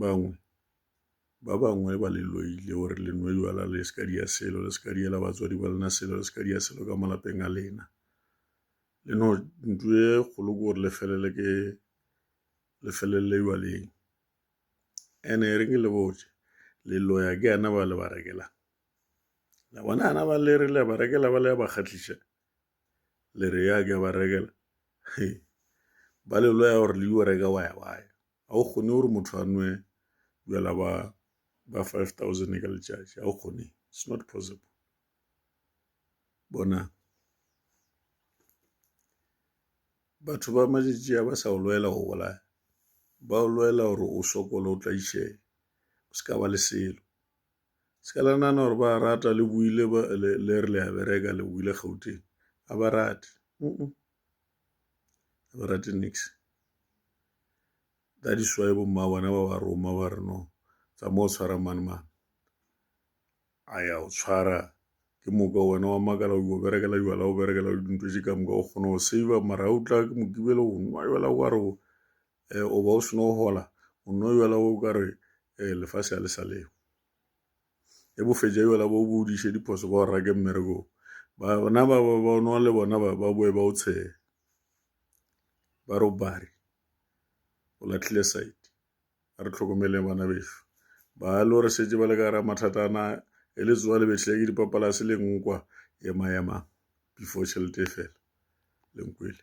bangwe ba bangwe ba le loile o re le nwe jwala le se ka dia selo le se ka diela batswadi ba lena selo le se ka dia selo ka malapeng a lena le no ntu e kgolo ke gore le felele ke le felelele jwaleng ene e reng le botse le loya ke ana ba le ba rekelang la bona ana ba le re le ba rekela ba le ba kgatlisa le re ya ke ba rekela ba le loya gore le yo reka waya waya ga o kgone gore motho a nwe bjala ba ba 5000 ka letšatši ga o kgone it's not possible bona batho ba matšatši a ba sa o lwela go bolaya ba o lwela gore o sokole o tlaišee o se ka ba le selo Se ka la nana gore ba rata le buile le re le a bereka le buile gauteng ga ba rate ga ba rate nix ka diswae bomma bona ba ba roma ba re no tsa mo o tshwara mane mane a ya o tshwara ke moka wena wa makala o berekela jwala o berekela dintho tše ka moka o kgona go save mara o tla ke mokibele go nwa jwala wa re um o ba o seno gola o nno yola o ka re um lefase ya le sa leo e bofetša yola bo bo diše diphoso ba o rake mmerekong bana ba ba bonwa le bona ba ba boe ba o tshehe ba re o bari o latlhile side a re tlhokomele bana bešo ba lo re setse ba le ka ra mathata ana e le tsoa le betlhile ke dipapalase le nkwa ema ema before tšhelete e fela lenkwele